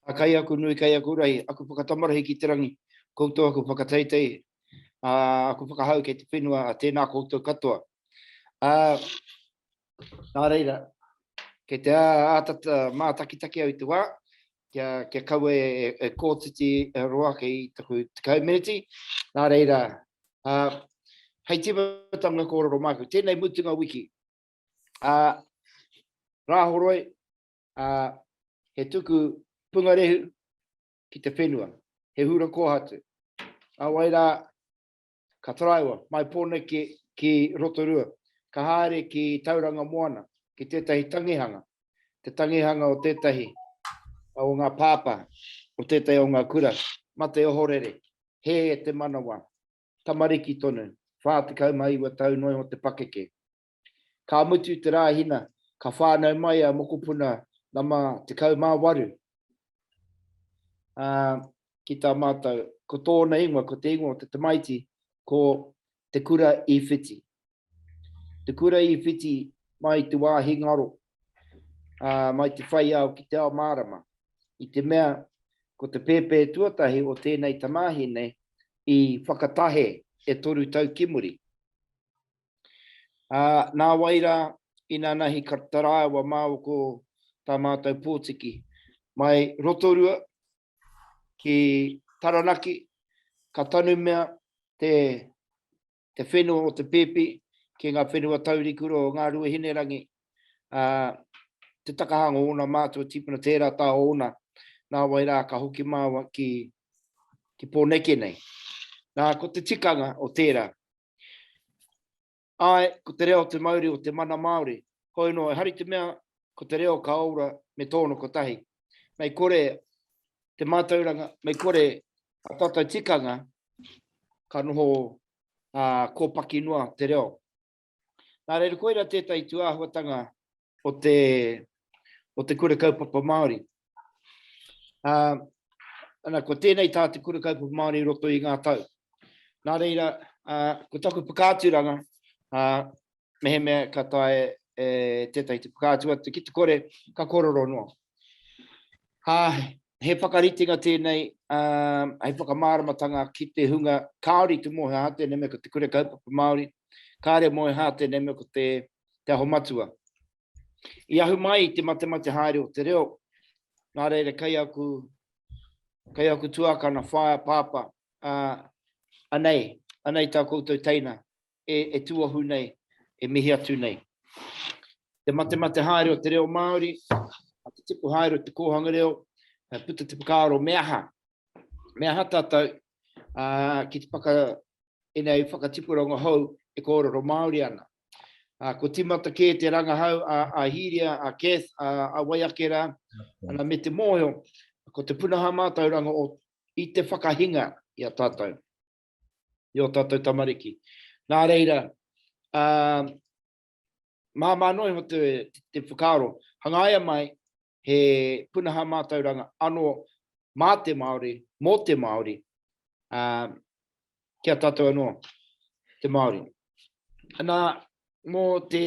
A kai aku nui, kai aku rahi, aku whakatamarahi ki te rangi, koutou aku whakateitei, a, aku whakahau kei te whenua, a, tēnā koutou katoa. A, nā reira, kei te āta mātakitaki au i te wā, kia, kia kaua e, e, e kōtiti e roa ake i taku tekau meneti, nā reira, a, hei tīmatanga kōrero māku, tēnei mutunga wiki, a, Rāhoroi, ā, he tuku pungarehu ki te whenua, he hura kōhatu. Nā wai rā, ka taraiwa mai Pōneke ki Rotorua, ka haere ki Tauranga Moana, ki tētahi tangihanga, te tangihanga o tētahi o ngā pāpā o tētahi o ngā kura, mate ohorere, hē te manawa, tamariki tonu, 49 tau noa iho te pakeke. Ka mutu te Rāhina, ka whānau mai a mokopuna nama 18, ā, ki tā mātou, ko tōna ingoa, ko te ingoa o te tamaiti, ko Te Kura i Whiti. Te Kura i Whiti mai te wāhi ngaro, ā, mai te whai ao ki te ao mārama, i te mea ko te pēpē tuatahi o tēnei tamāhine i whakatahe e toru tau ki muri. Ā, nāwai rā, inanahi ka taraiwa māua ko tā mātou pōtiki. Mai Rotorua ki Taranaki, ka tanumia te, te whenua o te pēpi ki ngā whenua taurikura o Ngārue Hinerangi, ā, te takahanga o ōna mātua tīpuna, tērā tā ōna, nāwai rā ka hoki māua ki, ki Pōneke nei. Nā, ko te tikanga o tērā, Ae, ko te reo te mauri o te mana Māori. Hoi no, ehari te mea, ko te reo ka oura me tōna kotahi. Mei kore te mātauranga, mei kore a tātou tikanga ka noho kōpaki noa te reo. Nā reira, koira tētahi tūāhuatanga o te, o te Kura Kaupapa Māori. Uh, ana, ko tēnei tā te Kura Kaupapa Māori roto i ngā tau. Nā reira, uh, ko taku whakaaturanga, uh, mehemea ka tae e, tētai te whakaatu atu ki te kore, ka kororo noa. Ha, he whakaritenga tēnei, uh, hei whakamāramatanga ki te hunga kāori te mōhea hātene me ko te Kura Kaupapa Māori, kāre mōhea hātene me ko te Kura Te Aho Matua. I ahu mai i te matemate haere o te reo, nā reira kei aku, kei aku tuakana, whaea, pāpā, uh, anei, anei tā koutou teina, e, e tuahu nei, e mihi atu nei. Te matemate haere o te reo Māori, a te tipu haere o te kōhanga reo, e puta te whakaaro me aha, Me aha tātou ki te whaka i nei whakatipuranga hou e kōrero Māori ana. Ko tīmata kē te rangahau a Hīria, a Kath, a Waiake rā, ana me te mōhio, ko te punaha mātauranga o i te whakahinga i a tātou, i o tātou tamariki. Nā reira, māmā noa iho te whakaaro, hangaia mai he punaha mātauranga ano mā te Māori, mō te Māori, ā, ki a tātou anō, te Māori. Ana, mō te,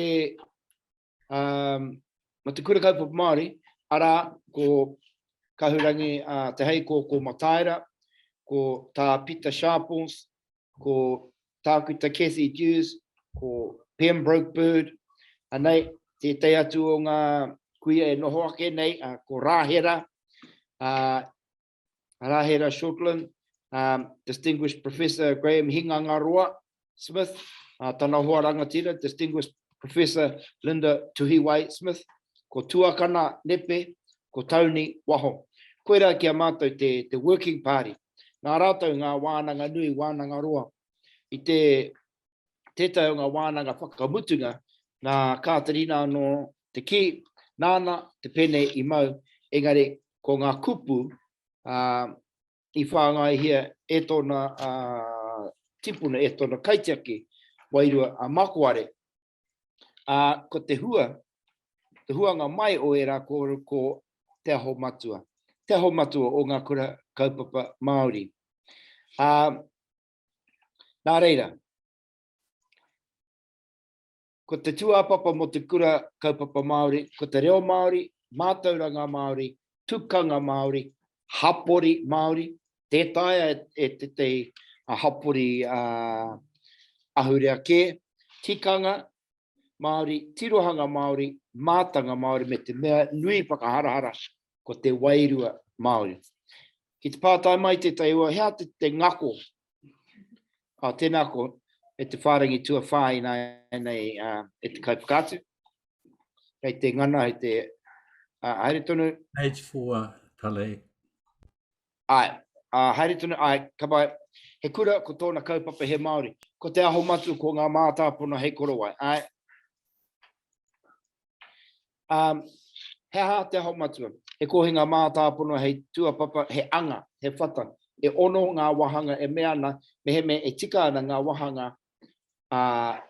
ā, mō te Kura Kaupapa Māori, arā, ko Kahurangi ā Te Heikō, ko Mataira, ko tā Pita Sharples, ko Tākuta Cathy Dewes, ko Pembroke Bird, anei tētahi atu o ngā kuia e noho ake nei, uh, ko Rāhera, uh, Rāhera Shortland, um, Distinguished Professor Graham Hingangaroa Smith, uh, tana hoa rangatira, Distinguished Professor Linda Tuhiwai Smith, ko Tuakana Nepe, ko Tony Waho. Koira ki a mātou te, te Working Party. Nā rātou ngā wānanga nui, wānanga roa, i te tētahi o ngā wānanga whakamutunga, nā Kāterina anō te kī, nāna te pene i mau, engari ko ngā kupu uh, i whāngaihia e tōna uh, tipuna, e tōna kaitiaki, wairua a Makoare, Ā, ko te hua, te huanga mai o ērā kōrero ko Te Aho Matua, te aho matua o ngā kura kaupapa Māori. Ā, nā reira, ko te tūāpapa mō te kura kaupapa Māori, ko te reo Māori, mātauranga Māori, tukanga Māori, hapori Māori, tē taea e tētahi hapori ahurea kē, tikanga Māori, tirohanga Māori, mātanga Māori me te mea nui whakaharahara ko te wairua Māori. Ki te pātai mai tētahi o hea te ngako, tēnā ko e te whārangi tuawhā ināianei e te kaiwhakaatu, Kei te ngana, hei te... Uh, haere tonu. Page 4, Tale. Ai, uh, haere tonu, ai, ka mai. He kura ko tōna kaupapa he Māori. Ko te aho matu, ko ngā mātāpono hei korowai. Ai. Um, he aha te aho matua? He kōhi ngā mātāpono hei tuapapa, he anga, he whata. E ono ngā wahanga e mea ana, meheme e tika ana ngā wahanga ā,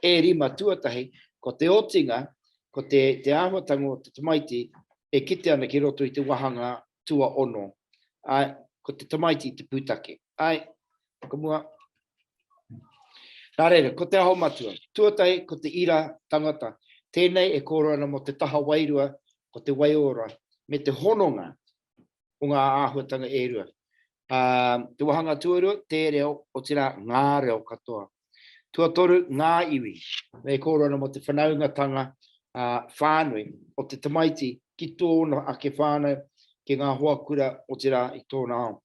e rima tuatahi, ko te otinga, ko te āhuatanga o te tamaiti e kite ana ki roto i te wāhanga tuaono, ā, ko te tamaiti te pūtake. Āe, whakamua. Nā reira, ko te aho matua. Tuatahi, ko te ira tangata. Tēnei e kōrero ana mō te taha wairua, ko te waiora, me te hononga o ngā āhuatanga e rua. Ā, te wāhanga tuarua, te reo, otirā, ngā reo katoa. Tuatoru, ngā iwi. E kōrero ana mō te whanaungatanga whānui o te tamaiti ki tōna ake whānau, ki ngā hoa kura, otirā, i tōna ao.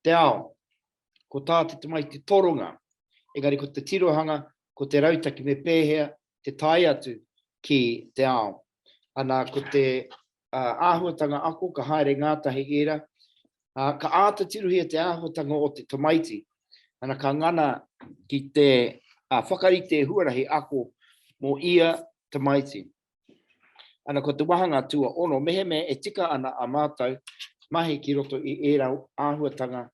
Te ao, ko tā te tamaiti toronga, engari ko te tirohanga, ko te rautaki me pēhea te tae atu ki te ao. Ana, ko te āhuatanga ako, ka haere ngātahi ērā, ā, ka āta tirohia te āhuatanga o te tamaiti, ana, ka ngana ki te whakarite huarahi ako mō ia tamaiti. Ana ko te wāhanga tuaono, mehemea e tika ana ā mātou mahi ki roto i ērā āhuatanga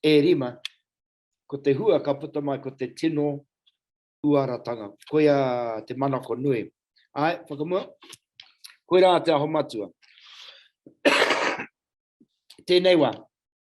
e rima, ko te hua ka puta mai ko te tino uaratanga, koia te manako nui. Āe, whakamua, koirā Te Aho Matua. Tēnei wā,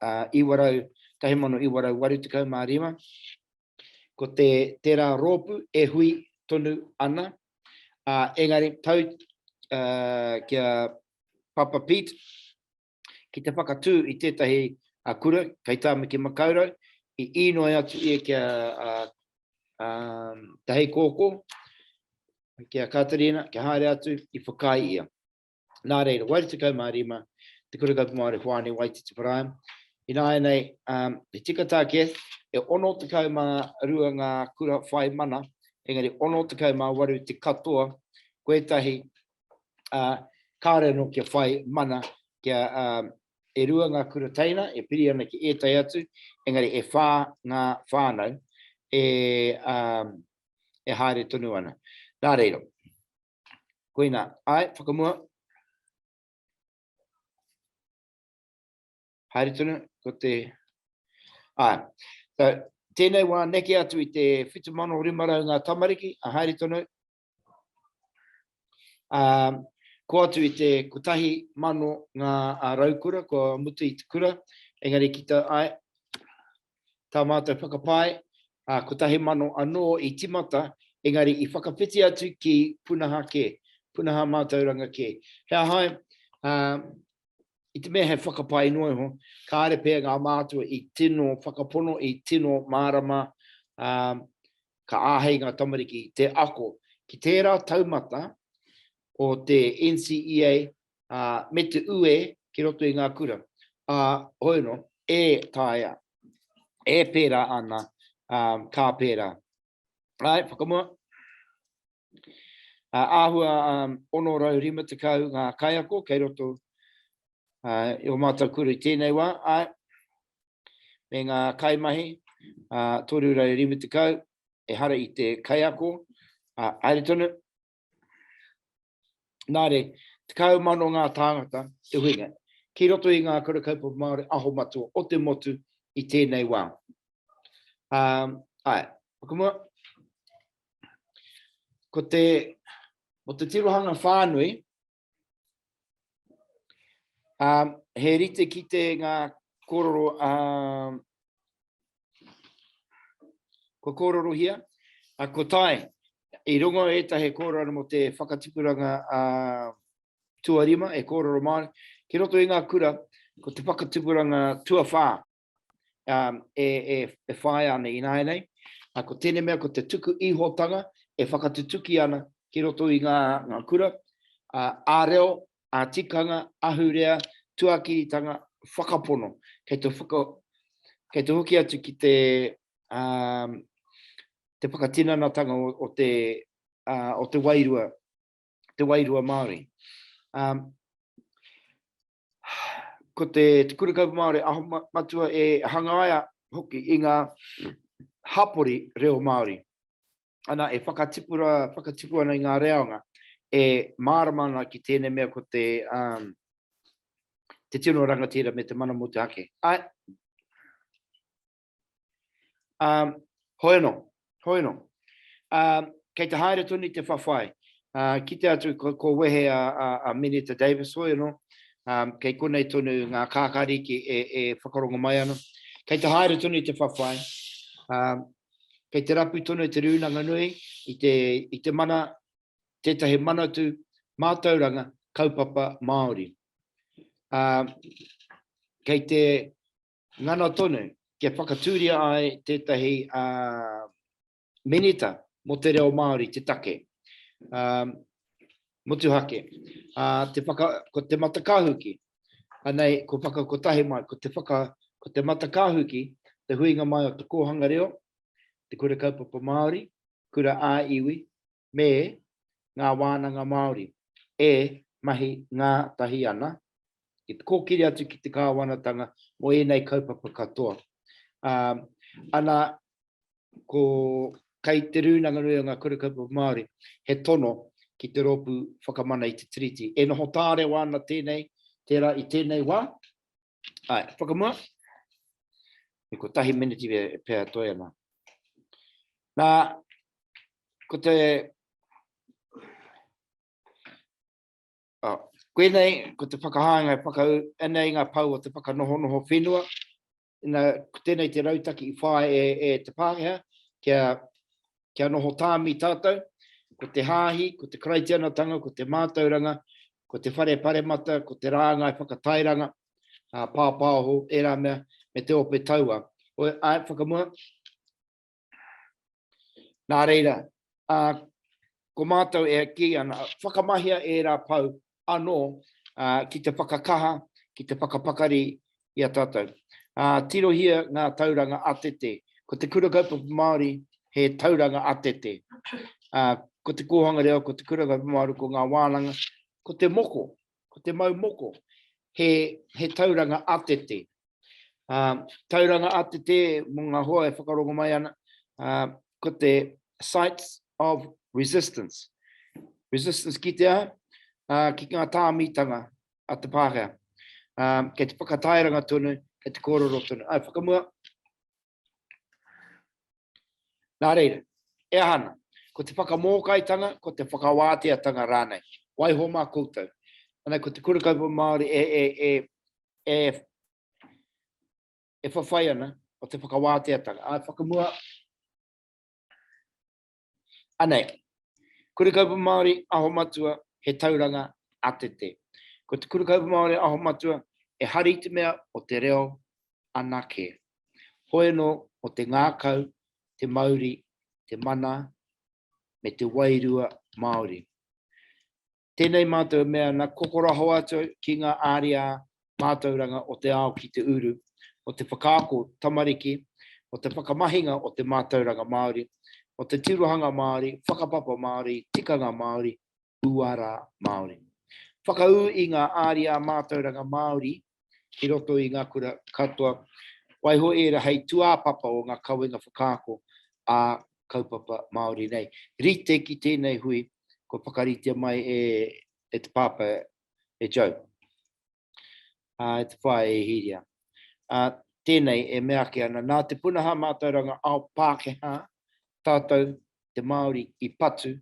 1985, ko te tērā rōpū e hui tonu ana, ā, engari tau ki a Papa Pete ki te whakatū i tētahi kura kei Tāmaki Makaurau, i īnoi atu ia ki a Te Heikōkō, ki a Kāterina, kia haere atu, i whakaae ia. Nā reira, wai 15, te Kura Kaupapa Māori Hoani Waititi Paraim, ināianei he tika tā Kath, e 62 ngā kura whai mana, engari 68 te katoa, ko ētahi kāore anō kia whai mana, kia e rua ngā kura teina e piri ana ki ētahi atu, engari e whā ngā whānau e haere tonu ana. Nā reira, Koina, ae, whakamua. Haere tonu, ko te... Ae, so, tēnei wā neke atu i te 7,500 ngā tamariki, a haere tonu. Um, ko atu i te kotahi mano ngā raukura, ko mutu i te kura, engari ki tau, ai, tā mātou whakapae, ā, kotahi mano anō i tīmata, engari i whakawhiti atu ki punaha kē, punaha mātauranga kē. He aha ai, ā, i te mea he whakapae noa iho, kāre pea ngā mātua i tino whakapono, i tino mārama, ā, ka āhei ngā tamariki te ako ki tērā taumata o te NCEA ā, me te ue ki roto i ngā kura, ā, hoi anō, e taea, e pērā ana, ā, ka pērā. Āe, whakamua. Ā, āhua 650 ngā kaiako kei roto, ā, i ō mātou kura i tēnei wā, āe, me ngā kaimahi, ā, 350, ehara i te kaiako, ā, haere tonu, Nā re, 10,000 ngā tāngata te huinga, ki roto i ngā Kura Kaupapa Māori aho matua o te motu i tēnei wā. Ā, āe, whakamua, ko te, ko te tirohanga whānui, Um, he rite ki te ngā kororo a... Um, ko kororo hia, a ko tai, i rongo e ta he kororo mo te whakatipuranga a uh, tuarima e kororo Māori, ki roto i ngā kura, ko te whakatipuranga tuawhā, e whāia ana ināianei. Ko tēnei mea, ko te tuku ihotanga e whakatutuki ana ki roto i ngā kura, ā-reo, ā-tikanga, ahurea, tuakiritanga, whakapono, kei te hoki atu ki te whakatinanatanga o te wairua Māori. ko te Te Kura Kaupapa Māori Aho Matua e hangaia hoki i ngā hapori reo Māori. Ana, e whakatipura, whakatipu ana i ngā reanga, e mārama ana ki tēnei mea ko te, um, te tino rangatira me te mana mō te ake. Ai, Um, hoi anō, hoi anō. Um, kei te haere tonu i te whawhai. Uh, ki te atu, ko, ko wehe a, a, a Minita Davis hoi anō, um, kei konei tonu ngā kākāriki e, e whakarongo mai ana. Kei te haere tonu i te whawhai. Um, kei te rapu tonu te rūnanga nui i te, i te mana, tētahi manatu, mātauranga, kaupapa, Māori. Um, kei te Ngana tonu, kia whakatūria ai tētahi Minita mō te reo Māori te take. Motuhake, ko Te Matakahuki, anei kua whakakotahi mai, ko Te Matakahuki te huinga mai o te kōhanga reo, te kura kaupapa Māori, kura ā-iwi, me ngā wānanga Māori e mahi ngātahi ana, ki te kōkiri atu ki te kāwanatanga mō ēnei kaupapa katoa. Ā, ana, ko, kei Te Rūnanga Nui o Ngā Kura Kaupapa Māori he tono ki te rōpū whakamana i te Tiriti. E noho tārewa ana tēnei, tērā i tēnei wā, Ai, whakamua. E ko tahi miniti e pēa toi ana. Nā, ko te... Oh, koenei, ko te whakahānga e whakau, anei ngā pau o te whakanohonoho whenua, ina, ko tēnei te rautaki i whae e, e te Pākehā, kia kia noho tāmi tātou, ko te hāhi, ko te karaitianatanga, ko te mātauranga, ko te whare paremata, ko te rāngai whakatairanga, uh, pāpāoho, ērā mea, me te ope taua. Oi, ai, whakamua. Nā reira, uh, ko mātou e ki ana, whakamahia ērā pau anō ki te whakakaha, ki te whakapakari i a tātou. Tirohia ngā tauranga atete. Ko te Kura Kaupapa Māori he tauranga atete. Ko te kōhanga reo, ko te Kura Kaupapa Māori, ko ngā wānanga, ko te moko, ko te mau moko, he tauranga atete. Tauranga ATT mō ngā hoa e whakarongo mai ana, ko te Sites of Resistance. Resistance kitea ki ngā tāmitanga a te Pākehā. Kei te whakatairanga tonu, kei te kōrero tonu. Āe, whakamua. Nā reira, e aha ana? Ko te whakamōkaitanga, ko te whakawāteatanga rānei? Waiho mā koutou. Anei ko te Kura Kaupapa Māori e, e, e, e, e whawhai ana o te whakawāteatanga. Āe, whakamua, Anei, Kura Kaupapa Māori Aho Matua he tauranga atete. Ko te Kura Kaupapa Māori Aho Matua e hari i te mea o te reo anake. Hoe no o te ngakau, te mauri, te mana me te wairua Māori. Tēnei mātou e mea ana, kokoraho atu ki ngā ariā mātauranga o te ao ki te uru, o te whakaako tamariki, o te whakamahinga o te mātauranga Māori, o te tirohanga Māori, whakapapa Māori, tikanga Māori, uara Māori. Whakaū i ngā ariā mātauranga Māori ki roto i ngā kura katoa, waiho ērā hei tūāpapa o ngā kawenga whakaako ā kaupapa Māori nei. Rite ki tēnei hui, kua whakaritea mai e e te Pāpā, e Joe, ā, e te Whaea, e Hīria. Ā, tēnei e meake ana, nā te punahā mātauranga ao Pākehā, tātou te Māori i patu,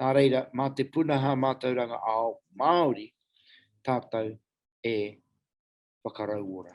nā reira, mā te punaha mātauranga ao Māori tātou e whakarauora.